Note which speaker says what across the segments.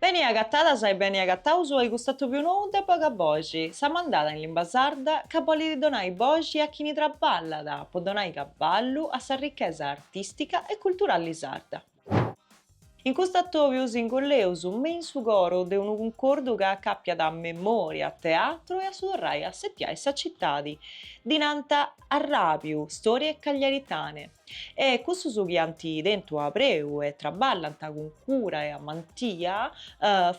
Speaker 1: Beni agatadas e beni agataus a cust'atobiu nou de Bogaboxi sa mandada in limba sarda ca bolit donai boxi a chini traballat po donai caballu a sa ricchesa artistica e culturali sarda. In cust'atobiu s'ingolleus me in su coru de unu cuncordu ca acapiat memoria, teatru e a su torrai a setiai sa cittadi dinanta Arràbiu, storie cagliaritane, e cussus chi ant tentu a preu e traballant cun cura e amantia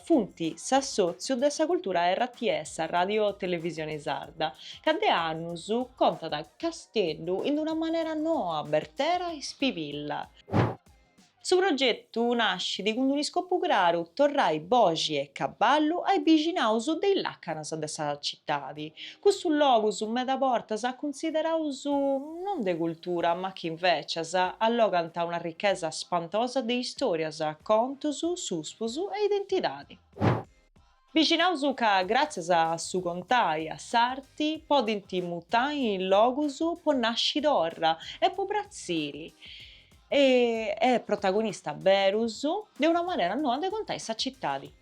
Speaker 1: funt s'assòtziu de sa cultura rts, sa Ràdio Televisione Sarda, ca de annus contat Casteddu in una manera noa, bertera e ispivilla. Su progetu nascit cun un'iscopu craru, torrai boxi e caballu ai bixinaus de is lacanas de sa citadi. Cussus logus meda bortas cunsideraus non de cultura ma chi invecis allogant una ricchesa spantosa de istorias, contus, suspus e identidadi. Bixinaus ca gràtzias a su contai, a s'arti, podint mutai in logus po nasci torra e po pratziri e e protagonista berus de una manera noa de contai sa citadi.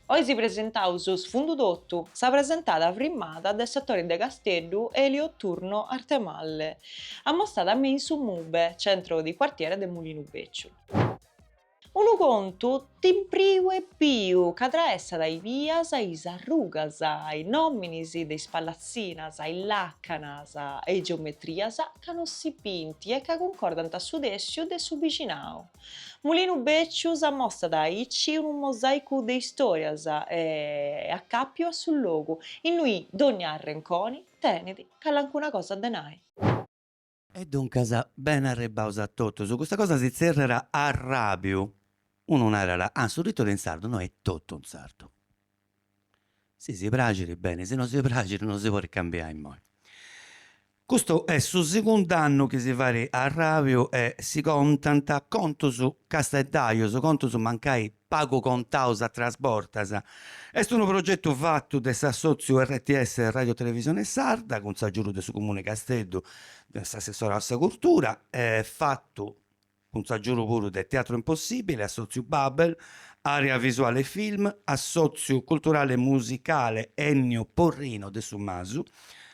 Speaker 1: Oi si presentaus Sfundu Totu, sa presentada firmada de s'atori de Casteddu Elio Turno Arthemalle, ammostada me in su Mube, centro di quartiere de Mulinu Bèciu. Unu contu timpriu e piu ca traessat is bias, is arrugas, is nominis de is pallatzinas, is lacanas, e geometrias ca no si bint e ca cuncordant su tessiu de su bixinau. Mulinu Becciu s'ammostat aici unu mosaicu de istorias e acapiu a su logu innui dogna arrenconi tenit calincuna cosa de nai.
Speaker 2: E duncas, beni arribbaus a totus, custa cosa si tzerriat Arrabiu, unu narat, ah su titulu in sardu, no est totu in sardu, si si praxit beni, si no si praxit no si podit cambiai immoi. Custu est su segundu annu chi si fait Arrabiu e si contant contus casteddajus, contus mancai pagu contaus atras bortas. Est unu progetu fatu de s'assòtziu rts Ràdio Televisione Sarda cun s'agiudu de su Comune 'e Casteddu, de s'assessorau a sa Curtura, e fatu cun s'agiudu puru de Teatro Impossibile, Assòtziu Babel, Area Visuale Film, Assòtziu Culturale Musicale Ennio Porrino de su Masu,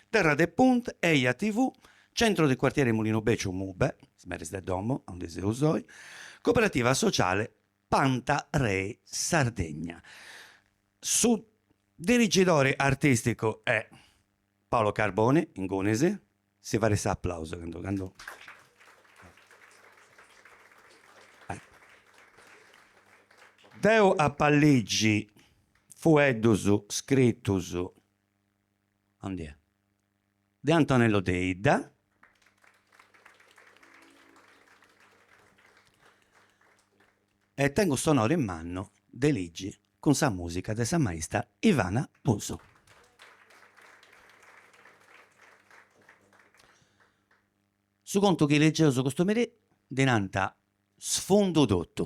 Speaker 2: Terra de Punt, Eja TV, Centro di Quartiere Mulinu Becciu, MUBE, is meris de domo, aundi seus oi, Cooperativa Sociale Panta Rei Sardegna. Su diretori artisticu est Paolo Carboni, ingunis, si fait s'aplausu candu deu apu a ligi fueddus scritus, de Antonello Deidda, e tengu s'onori mannu de ligi cun sa musica de sa maista Ivana Busu. Su contu chi legeus custu merì ddi nant Sfundu totu.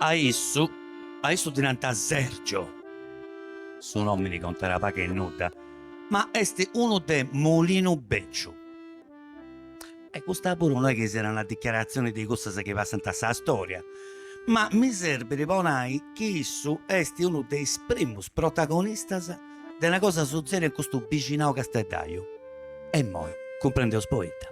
Speaker 2: A issu, a issu ddi nant Sergio, su nomini contat pagu e nudda, ma est unu de Mulinu Becciu. E custa puru no est chi siat una dichiaratzioni de cussas chi passant a sa stòria, ma mi serbit po nai chi issu est unu de is primus protagonistas de una cosa sutzèdia in custu bixinau casteddaiu. E immoi cumprendeus poita.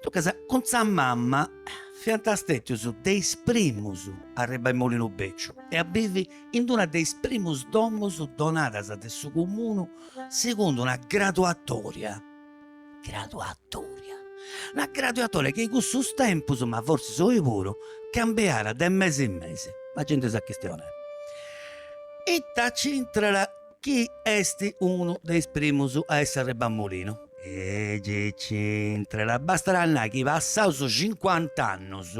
Speaker 2: Duncas, cun sa mama fiant stètius de is primus a arribbai a Mulinu Becciu e a bivi in una de is primus domus donadas de su Comunu segundu una graduatòria, Graduatoria. Una graduatoria chi in cussus tempus, ma forsis oi puru, cambiàt de mesi in mesi. La genti sa chistioni. Ita nci intrat chi est unu de is primus a essi arribau a Mulinu? E gei nci intrat, bastat a nai chi passaus cincuant'annus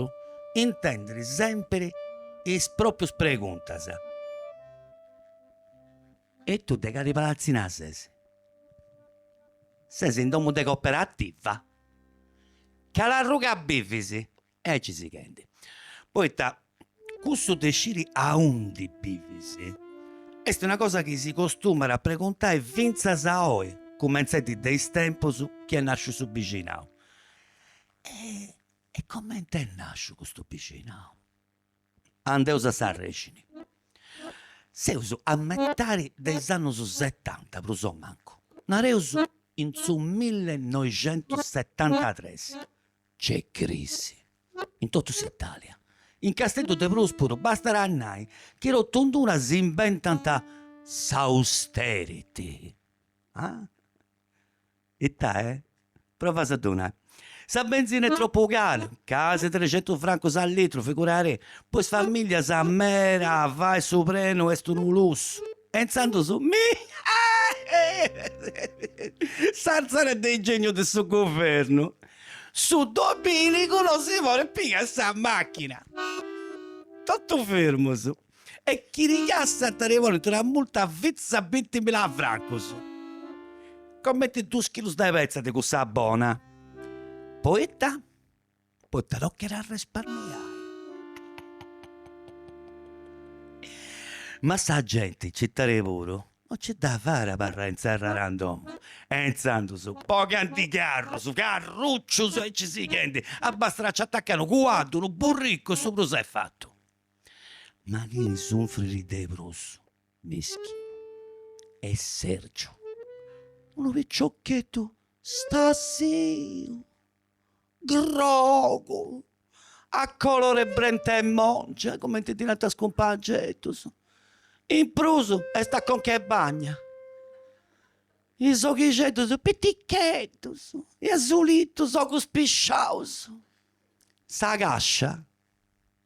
Speaker 2: intendit sempiri is proprius preguntas. E tu de cali palatzina ses? Ses in domu de coperativa? Cal'arruga bivis? E aici sighendi, poita cussu de sciri aundi bivis est una cosa chi si costumat a preguntai fintzas a oi, cumentzendi de is tempus chi est nasciu su bixinau. E coment'est nasciu custu bixinau? andeus a s'arrexini. Seus a metadi de is annus setanta prus o mancu, nareus in su millenoixentusetantatres, nc'est crisi in totu s'Italia, in Casteddu de prus puru, bastat a nai chi totinduna si imbentant s'austerity, ah Itae? Provas a donai. Sa benzina est tropu cara, casi trexentus francus a litru, figurari, po is famìllias meda fai su prenu est unu lussu. E intzandus, mi! S'arzara de ingegnu de su guvernu, su domìnigu no si porit pigai sa màchina. Totu firmus. E chi ti cassant nci bolit una multa a fintzas bintimila francus, comente duus chilus de petza de cussa bona, poita? Poita tocat a resparmiai. Ma sa genti in citadi puru no nci dda fait a abarrai inserrada in domu e intzandus bogant is carrus, carruccius e aici sighendi, bastat a nci atacai unu cuaddu, unu burricu e su prus est fatu. Ma chi sunfrit de prus, mischì, est Sergiu, unu piccioccheddu stasiu, grogu, a colore 'e brenta 'e mongia, cumenti ddi nant is cumpangeddus, in prus est a conca 'e bagna, is oghixeddus piticheddus, e asulitus, ogus pisciaus, sa cascia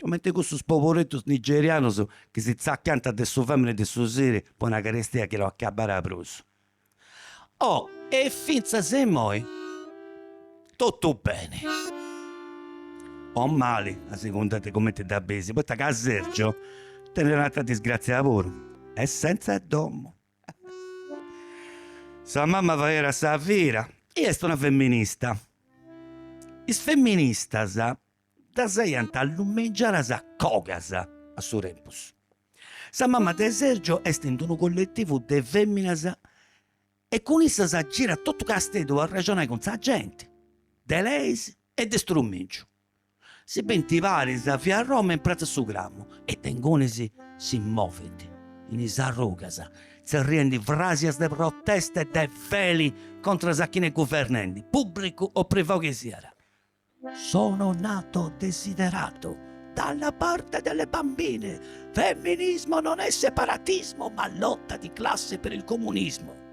Speaker 2: Comente cussus poberittus nigerianus chi si zaccanta de su famini e de su siri po una carestia chi no accabbara prusu. Oh e finzas immoi tottu beni o mali a segunda de comente dda bisi, poita ca Sergio tenit un'attra disgrazia puru, est senza domu. Sa mamma faerat sa fira e est una femminista. Is femministas ddas aiant allumingiadas a cogas a su tempus. Sa mamma de Sergio est in unu colletivu de feminas e cun issas girat totu Casteddu a arrexonai cun sa genti, de leis e de strumìngiu. Si bint paris in via Roma in pratza 'e su Cramu e de ingunis si movint in is arrugas tzerriendi frasias de protesta e de feli contra a chini est guvernendi, publicu o privau chi siat. Sono nato desiderato dalla parte delle bambine, femminismo non è separatismo ma lotta di classe per il comunismo.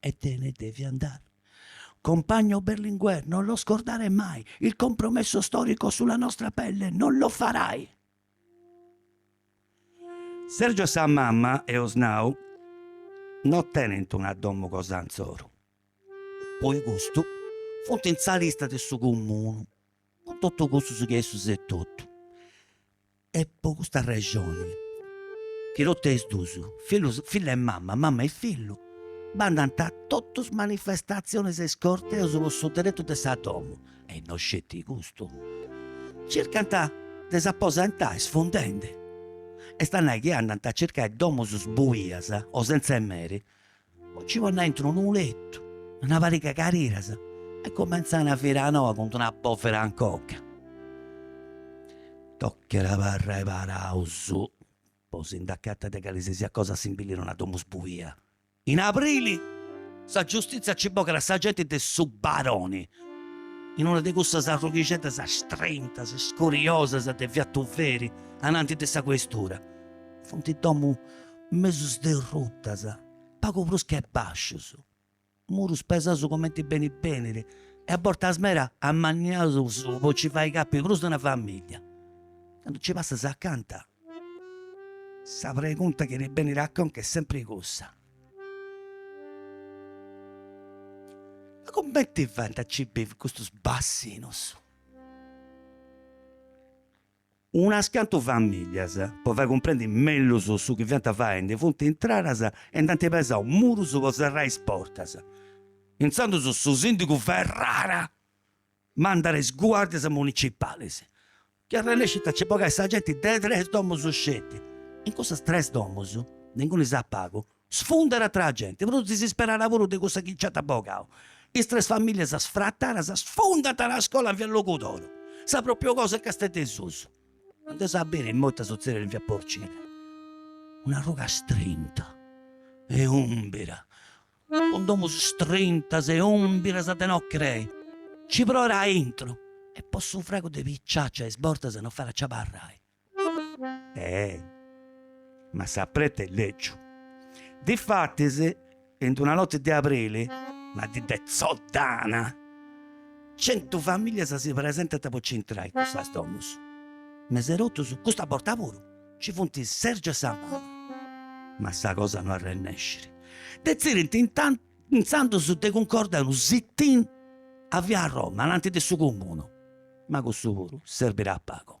Speaker 2: E te ne devi andare. Compagno Berlinguer, non lo scordare mai, il compromesso storico sulla nostra pelle non lo farai! Sergio e sa mamma, eus nau, no tenent una domu cosa insoru, po custu funt in sa lista de su Comunu, cun totu cussus che issus etotu. Est po custa rexoni chi totu e is dus, fillus fillu e mama, mama e fillu, bandant a totus is manifestatzionis e is corteus po su deretu de sa domu, e no sceti custu, circant de s'aposentai sfundendi, est a nai chi andant a circai domus buias o sentza 'e meri, Ci ponint aintru unu letu, una pariga 'e cariras e cumentzant una vira noa cun d'una bòvera in conca. Tocat a abarrai paraus, po si nd'acatai de cali si siat cosa simbillit una domu sbuia. In aprili sa giustizia ci bogat sa genti de su Baroni, in una de cussas arrughixeddas strintas, iscuriosas de Via Tuveri, ananti de sa questura. Funt domu mesu sderrutas, pagu prus che bascius, murus pesaus comenti benit benit e a bortas meda amanniaus po ci fai capi prus de una famiglia. Candu ci passas acanta, sa pregunta chi ti benit a conca est sempri cussa, ma cumenti faint a ci bivi custus bassinus? Unas cantu famìlias, po fai cumprendi mellus su chi fiant faendi, funt intradas e nd'ant pesau murus po serrai is portas. Intzandus su sìndigu Ferrara mandat is guàrdias municipalis, chi arrennescint a nci bogai sa genti de tres domus sceti. In cussas tres domus, de ingunis a pagu, Sfundat atra genti, prus disisperada puru de cussa chi nci ant bogau. Is tres famìllias sfratadas sfundant una scola in via Logudoru, sa pròpriu cosa in Casteddu 'e susu. Andeus a biri imoi ita sutzedit in via Porcile. Un'arruga istrinta e ùmbira, cun domus istrintas e ùmbiras de no crei, nci proit aintru e po su fragu de picciacciu a is bortas no fait a nci abarrai. Eeh! Ma s'apretu est lègiu. Difatis, in una noti de aprili, una dì de tzoddana, centu familias si presentant po nci intrai in custas domus. Mesu 'e totus, custa borta puru, nci funt Sergiu e sa mama. Ma sa cosa no arrennescit. Detzidint intzandus de cuncordai unu sit-in a Via Roma, ananti de su Cumunu. Ma cussu puru serbit a pagu.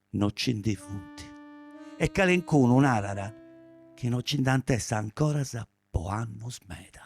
Speaker 2: no ci ndi funt e calencunu narat chi no ci nd'ant essi ancoras po annus meda.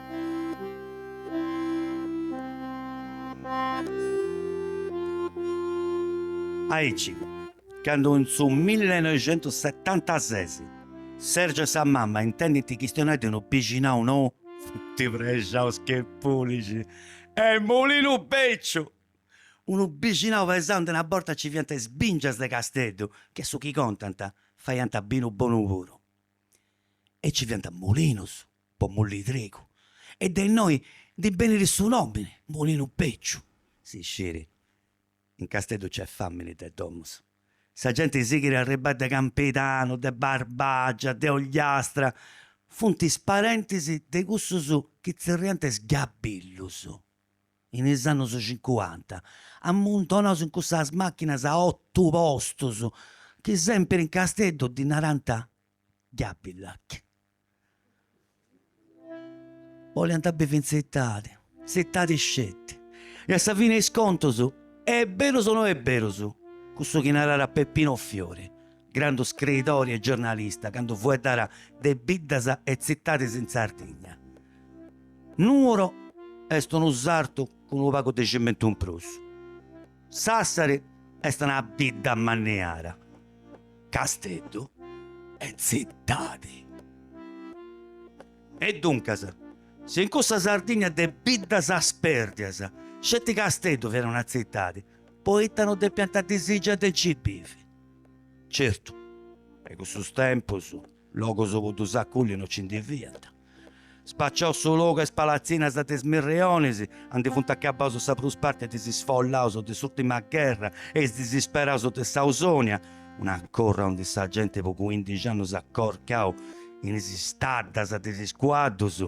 Speaker 2: Aici, candu in su millineuixentusetantases Sergio e sa mamma intendint chistionai de unu bixinau nou funt prexaus che pulixi e mulinu beciu! Unu bixinau pesau andi una borta nci fiant is bingias de Casteddu chi a su chi contant faiant binu bonu puru e nci fiant mulinus po mulliri trigu, e de innoi ndi benit su nòmini, Mulinu Becciu. Si sciit, in Casteddu nc'est fàmini de domus. Sa genti sighit a arribbai de Campidanu, de Barbàgia, de Ogliastra, funt is parentis de cussus chi tzerriant is Gabillus. In is annus cincuanta amuntonaus in cussas màchinas a otu postus, chi sèmpiri in Casteddu ddi narant Gabillac. Boliant bivi in zittadi, zittadi sceti, e a sa fini 'e is contus, e' berus o no e' berus, cussu chi naràra Peppino Fiori, grandu scridori e giornalista, candu fueddàra de biddas e zittadis in Sardigna, Nuoro est unu sartu cun unu pagu de cimentu in prus. Sassari est una bidda mannita, Casteddu est tzitadi. E duncas, si in cussa Sardigna de biddas spérdias sceti Casteddu fiat una tzitadi, poita no depiant a disìgiai de nci bivi? Certu, de cussus tempus. Logu po ddus acolli no ci ndi fiat. Spaciau su logu a is palatzinas de Is Mirrionis, andi funt acabaus sa prus parti de is isfollaus de s'urtima gherra e is disisperaus de s'Ausonia, una corra andi sa genti po cuindixi annus at corcau in is staddas de is cuaddus,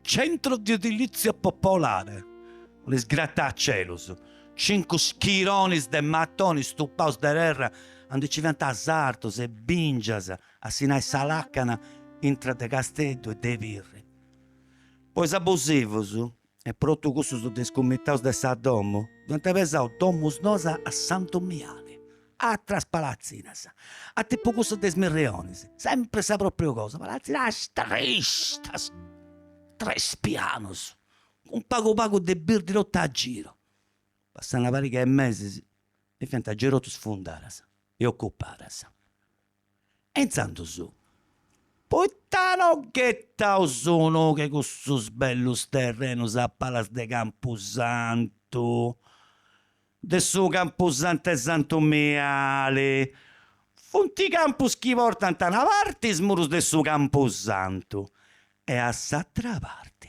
Speaker 2: Centro di Edilizia Popolare, is gratacelus, cincu schironis de matoni stupaus de terra andi nci fiant sartus e bìngias a si nai sa làcana intra de Casteddu e de Pirri. Po is abusivus e po totu cussus discumitaus de sa domu, iant pesau domus noas a Santu Miali. Atras palatzinas, a tipu cussas de Is Mirrionis, sempri sa propriu cosa, palatzinas tristas, tres pianus, cun pagu pagu de birdi totu a giru. Passà una pariga 'e mesis, e fiant giai totus sfundadas e ocupadas. e intzandus poita no ghetaus un'ogu a cussus bellus terrenus a palas de campusantu, de su campusantu 'e Santu Miali, funt campus chi portant a una parti is murus de su campusantu e a s'atra parti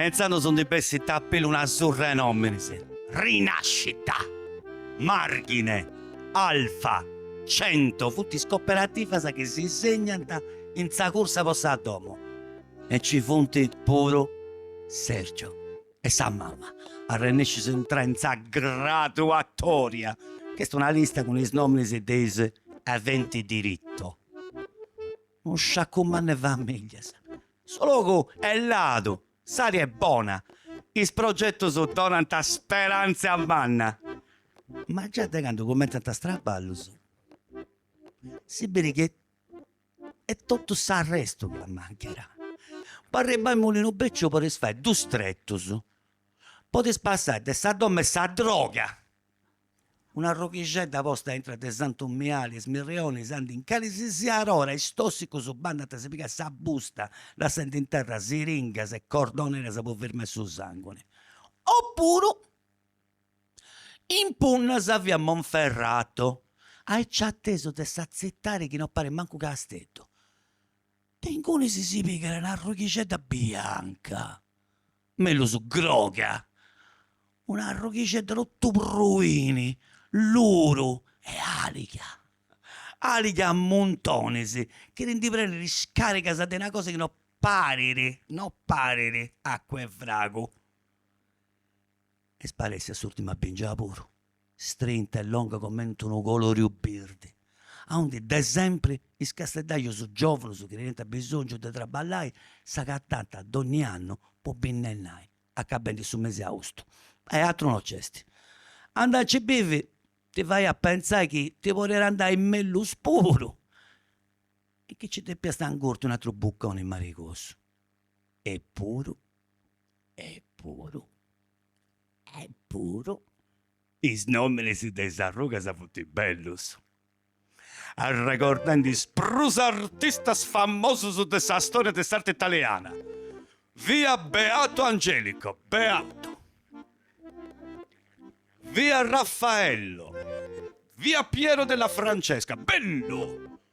Speaker 2: E intzandus ndi bessit a pillu una surra 'e nominis, Rinascita, Marghine, Alfa, Cento, funt is coperativas chi si segnant in sa cursa po sa domo. e ci funt puru Sergio e sa mama arrennescius a intrai in sa graduatoria, chi est una lista cun is nominis de is aventi diritto. Unu sciacu mannu 'e famìglias. Su logu est ladu, s'ària est bona, is progetus donant speranza manna, ma già de candu cumentzant is traballus si biri chi e totu s'arrestu dd'at a mancai. Po arribbai a Mulinu Bècciu podis fai dus tretus, podis passai de sa domu 'e sa droga, un'arrughixedda posta aintru de Santu Miali e is Mirrionis aundi in calisisiat ora is tòssicus bandant a si pigai sa busta lassendi in terra siringas e cordoneras po firmai su sànguni, o puru Impunnas a via Monferrato, aici atesu de sa tzitadi chi no parit mancu Casteddu. De ingunis si pigat una arrughixedda bianca, mellus groga, un'arrughixedda totu pruini, luru e àliga, àliga a muntonis, chi ti ndi prenit is càrigas de una cosa chi no parit, no parit acua 'e fragu Est sparèssia s'ùrtima bingia puru, strinta e longa comenti unu colòriu birdi, aundi de sempri is casteddajus giòvunus chi teniant abisòngiu de traballai s'agatant dònnia annu po binnennai, acabendi su mesi austu. E atru no nc'est. Andai a nci bivi ti fait a pentzai chi ti podiat andai mellus puru e chi nci depiast ingurti un'atru bucconi marigosu. Epuru Eppuru eppuru is nominis de is arrugas funt bellus, arregordendi is prus artistas famosus de sa storia de s'arti italiana, via Beato Angelico, Beato, via Raffaello, via Piero della Francesca, bellu!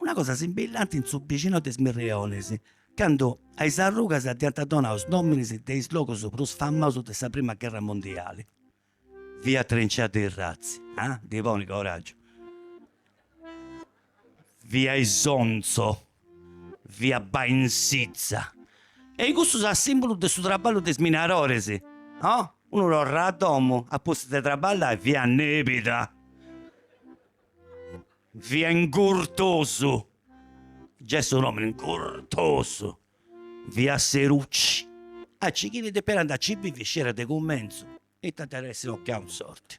Speaker 2: Una cosa simbillanti in su bixinau de is Mirrionis, candu a is arrugas dd'iant donau is nominis de is logus prus famausus de sa prima gherra mundiali, via Trincea dei Razzi, ah, ddi ponit coraggiu, via Isonzo, via Bainsizza, e cussus a simbulu de su traballu de is minaroris, oh, unu torrat a domu apustis de traballai, via Nebida. via Ingurtosu, gei su nomini Ingurtosu, via Seruci, aici chini depiat andai a ci bivi sciiat de cumenzu, ita dd'iat essi tocau in sorti.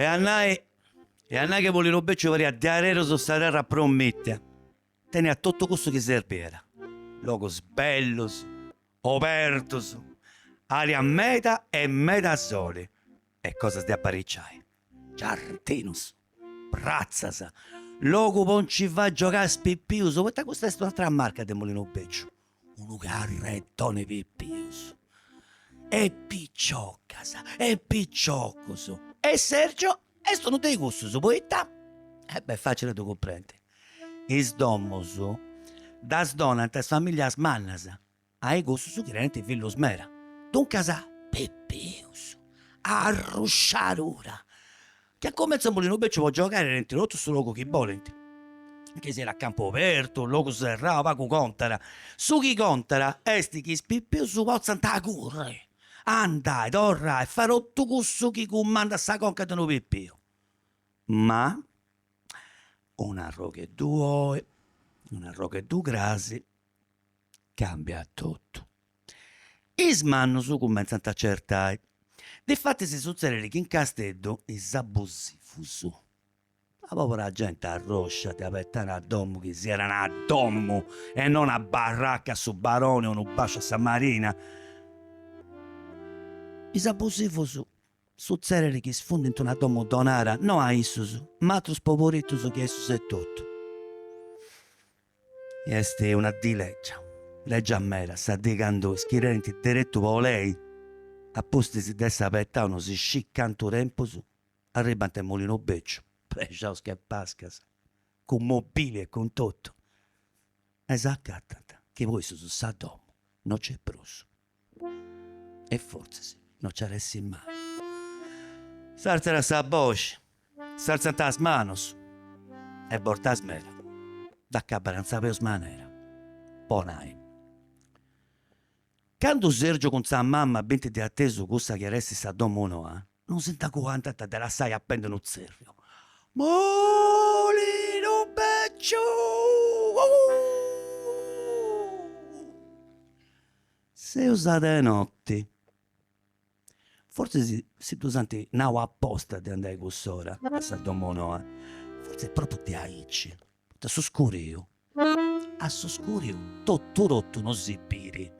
Speaker 2: E a nai e a nai chi Molinu Becciu pariat diarerus sa terra promìtia, teniat totu cussu chi serbiat, logus bellus Obertus, aria meda e meda soli e cosas de apariciai, giardinus, pratzas, logu po nci fai giogai is pipius, poita custa est un'atera marca de Molinu Beciu, unu carretoni pipius, e piciocas e piciocus e Sergio Est unu de cussus poita, e be', facili a ddu cumprendi, is domus ddas donant is familias mannas a i cussus chi tenint fillus meda. Duncas, pipius, arrusciadura, chi a cumentzu a Molinu Beciu po giogai tenint totu su logu chi bolint, chi siat a campu obertu, logu serrau, pagu contat. Su chi contat est chi is pipius potzant curri Andai, torrai, fai totu cussu chi cumandat sa conca de unu pipiu, ma un'arrogheddu oi, un'arrogheddu crasi, cambiat totu. Is mannus cumentzant a certai. Difatis sutzedit chi in Casteddu is abusivus Sa pobra genti arroscia de abetai una domu chi siat una domu e no una barraca a su Baroni o unu basciu a sa Marina. Is abusivus sutzedit chi sfundint una domu donara no a issus ma a atrus poboritus che issus etotu. Est una dì legia, legia meda, sa dì candu is chi tenint deretu po lei a pustis de essi abetau no si scit cantu tempus, arribant in Mulinu Becciu, prexaus che pascas, cun mobili e cun totu, e s'acatant chi po issus sa domu no nc'est prus e fortzis no nci at a essi mai. S'àrtzat sa boxi, s'àrtzant is manus e bortas meda dd'acabat in sa peus manera po nai, Candu Sergiu cun sa mama bint de atesu cussa chi at a essi sa domu noa, non si nd'aguantant de lassai appendi unu tzerriu. Mulinu Becciu! Seus a de notti. Fortzis si ddus ant nau aposta de andai a cuss'ora a sa domu noa, fortzis propriu diaici, poita a su scuriu, a su scuriu totu totu non si biri,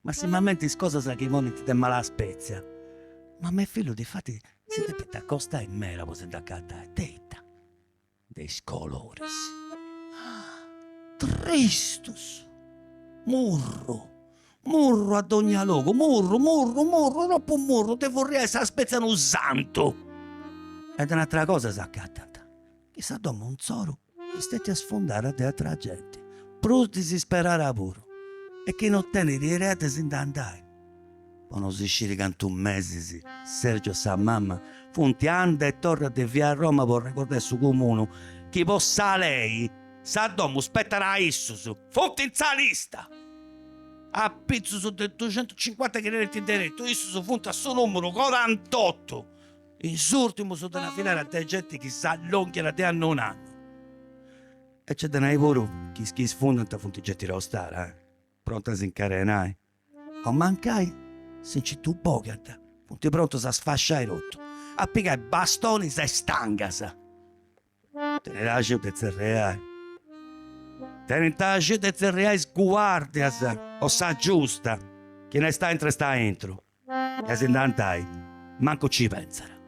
Speaker 2: massimamenti is cosas chi ponint de mala spetzia. Mama e fillu difatis si depint acostai meda po si nd'acatai, de ita de is coloris tristus murru murru a dogna logu murru murru murru tropu murru de furriai sa spetzia a unu santu e de un'atera cosa s'acatant chi sa domu insoru est stètia sfundara de atera genti prus disisperada puru e chi no tenit idea de si ndi andai Po no si sciri cantu mesis Sergiu e sa mama funt anda e torra a de via Roma po arregordai a su comunu chi po sa lei sa domu spetat a issus. Funt in sa lista! Apizus de duxentucincuanta chi tenint deretu, issus funt a su numeru corantotu, is urtimus de una filera de genti chi s'allonghiat de annu in annu. E nc'est de nai puru chi is chi isfundant funt genti tostara, pronta a s'incarenai. O mancai si nci ddu bogant, funt prontus a sfasciai totu, a pigai bastonis e stangas. Tenit axiu de tzerriai. Tenint axiu de tzerriai is guàrdias o sa giusta, chini est aintru est aintru, e si nd'andai, mancu nci pentzat.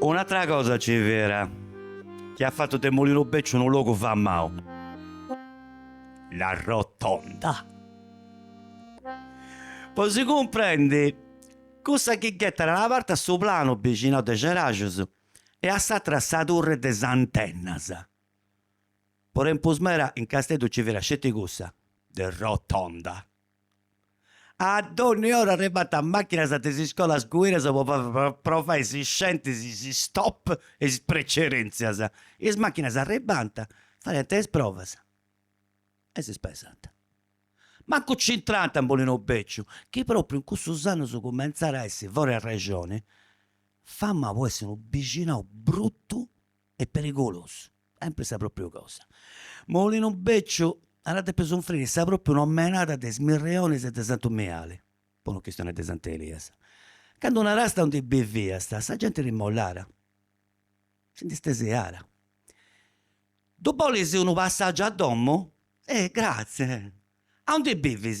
Speaker 2: Un'atra cosa nci fiat chi at fatu de Molinu Becciu unu logu famau, la rotonda. Po si cumprendi, cussa chi ghetat a una parti a Su Planu, bixinau de Ceraxus e a s'atra a sa turri de is antennas. Po tempus meda in Casteddu nci fiat sceti cussa de Rotonda. A dònnia ora arribànt màchinas de is scolas guiras po provai is scientis is stop e is precerèntzias. Is màchinas arribànt, fadiant is provas e si spesànt. Mancu nci intrànt a Molinu Bèciu, chi pròpriu in cussus annus cumentzàt a essi, fora 'e arrexoni, famau po essi unu bixinau brutu e perigulosu, sempri sa pròpriu cosa. Molinu Bèciu at a depi sunfriri sa pròpriu nomenada de Is Mirrionis e de Santu Miali, po no chistionai de Sant'Elias. Candu naràst aundi biviast, sa genti rimollàt, si ndi stesiàt. Ddu bolis unu passàgiu a domu? Eh! Gratzie! Aundi bivis?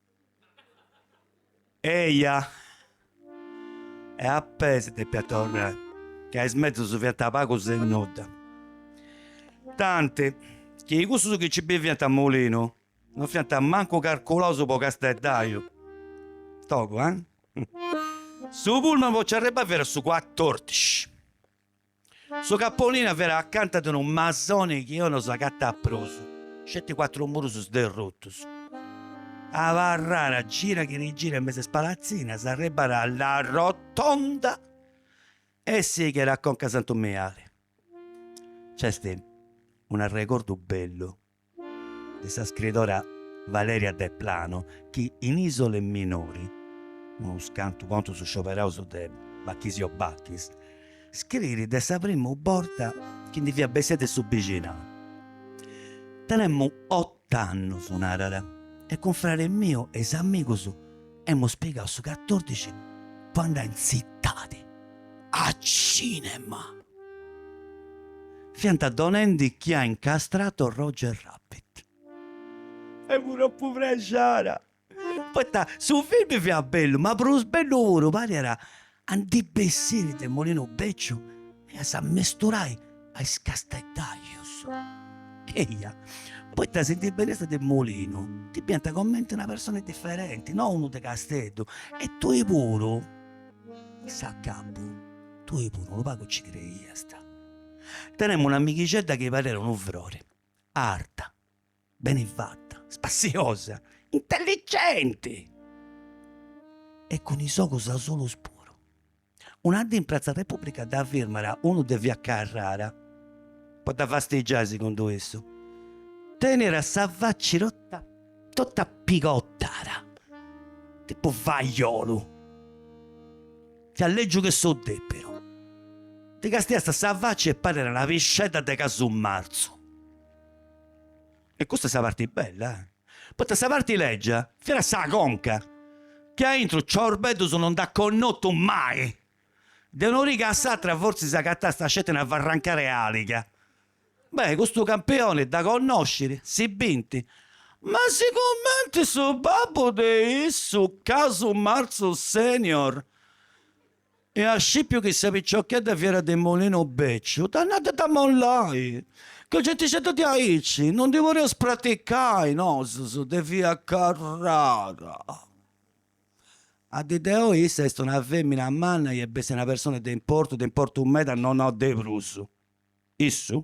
Speaker 2: Eja! E a pei si depiat torrai, ca is mezus fiant pagus e nudda. Tanti chi cussus chi nci biviant a Molinu no fiant mancu carculaus po casteddaju. Togu, eh? Su pullman po nci arribbai fiat su cuatordici. Su capolìnia fiat acanta de unu masoni chi oi no s'agatat prus, sceti cuatru murus sderrutus. Abarrara gira chi rigira in mesu 'e is palatzinas, arribbara a La Rotonda e sighera a conca a Santu Miali. Nc'est un'arregordu bellu de sa scridora Valeria Deplano chi in Isole minori, unus cantu contus scioberaus de Bachisio Bachis, scrit de sa primu borta chi ndi fiat bessida de su bixinau. Tenemu ot'annus, narat, e cun fradi miu e is amigus Emus pigau su catòrdici po andai in tzitadi a cinema. Fiant donendi Chi ha incastrato Roger Rabbit. Femu tropu prexara, poita su filmi fiat bellu, ma prus bellu puru pariat a ndi bessiri de Molinu Bèciu e a s'ammesturai a is casteddajus. Eia, poita si ndi beniast de Molinu, ti biant comenti una persona diferenti, no unu de Casteddu, e tui puru, a s'acabu, tui puru unu pagu ci creiast. Tenemu un'amighixedda chi parèra unu frori, arta, beni fatta, spassiosa, intelligenti e cun is ogus asulus puru. Una dì in pratza Repubblica dd'at firmada unu de via Carrara po dda fastigiai segundu issu. Tenira sa faci totta totta pigottara, tipu fajolu. Fiat lègiu che su dèpiru. Ddi castiasta sa faci e parira una piscedda de casu marzu. E custa est sa parti bella, eh! Poita sa parti lègia fiat sa conca, chi aintru ciorbeddus no nd'at connotu mai. De un'origa a s'atra fortzis agatasta sceti una farrancara 'e àliga. Beh, custu campioni dda connoscit, si bint, ma sigumenti su babbu de issu, Casu Marzu Senior, e at scipiu chi sa picciocchedda fiat de Molino Bècciu, dd'at nau de dd'ammollai, ca gentixedda de aici non ndi poreus praticai, nosus de via Carrara. A dì de oi issa est una fèmina manna e bestia, una persona de importu, de importu meda, no nau de prus. Issu?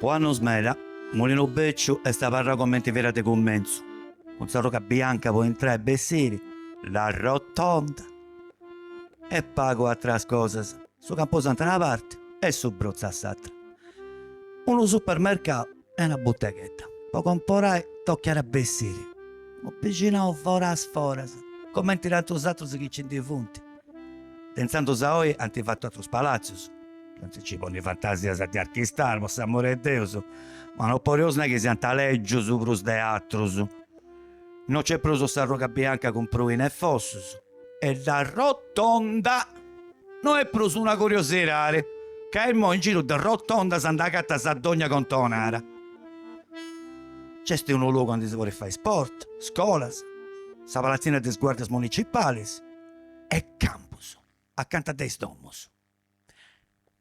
Speaker 2: Po annos meda, Mulinu Bècciu est abarrau comenti fiat de cummentzu, cun s'arruga bianca po intrai e bessiri, la Rotonda e pagu atras cosas, su Camposantu 'e una parti e su Brotzu a s'atra. Unu supermercau e una buteghedda po comporai tochiat a bessiri unu bixinau foras foras comenti tantus atrus chi nci ndi funt de intzandus a oi ant fatu atrus palatzus no si nci ponit fantasias de archistar po s'amori 'e Deus ma no podeus nai chi siant lègius prus de atrus no nc'est prus s'arruga bianca cun pruini e fossus e la Rotonda no est prus una curiosirari, ca imoi in giru de rotondas nd'agatas a dogna contonara. Nc'est unu logu aundi si podit fai sport, scolas, sa palatzina de is guardias municipalis e campus acanta de is domus.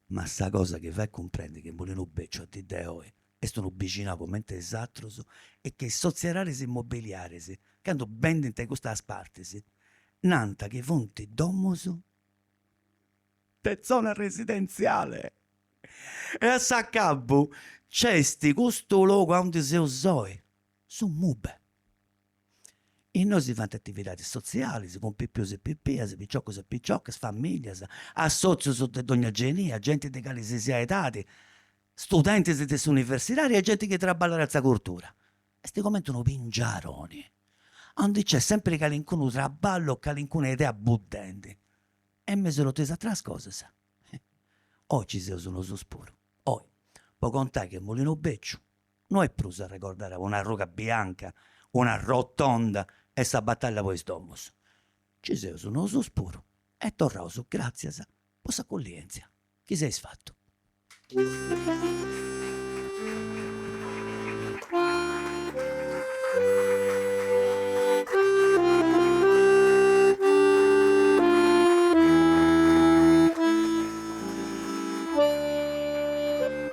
Speaker 2: Ma sa cosa chi fait cumprendi chi Mulinu Beciu a dì de oi est unu bixinau cumenti is atrus est chi is sotzieraris immobiliaris candu bendint in custas partis nant chi funt domus de zona residenziale e a s'acabu nc'est custu logu aundi seus oi su MuBe. Innoi si faint atividadis sotzialis cun pipius e pipias, piciocus e piciocas, familias, assòtzius de dogna genia, genti de calisisiai edadi, studentis de s'universidadi e genti chi traballat a sa curtura. Est cumenti unu pingiaroni aundi nc'est sempiri calincunu traballu o calincuna idea buddendi. E in mesu a totu is ateras cosas, oi nci seus nosus puru, oi, po contai chi Mulinu Beciu no est prus arregordare una arruga bianca, una rotonda e sa bataglia po is domus. Nci seus nosus puru e torraus gràtzias po s'acullièntzia chi s'eis fatu.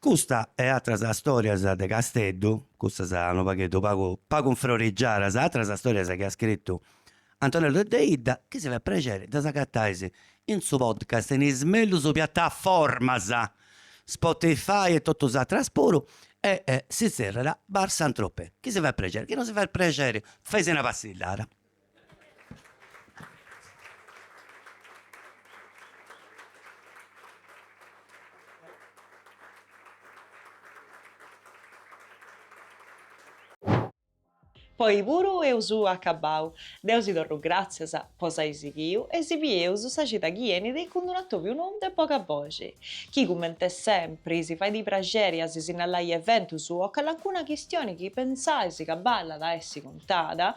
Speaker 2: Custa e atras stòrias de Casteddu, custas unu pagheddu pagu pagu infrorigiadas, atras stòrias chi at scritu Antonello Deidda, chi si fait prexeri ddas agatais in su podcast in is mellus piataformas, Spotify e totu is atras puru, e si tzèrriat Bar Saint-Tropez, chi si fait prexeri, chi no si fait prexeri, faisi una passillada.
Speaker 1: Po oi puru eus acabbau. Deu si torru gràtzias po s'ai sighiu e si bieus sa cida chi enit cun d'un'atòbiu nou de boga boxi, chi comente sempri si fait praxeri a si sinnalai eventus o calancuna chistioni chi pensais ca ballat a essi contada,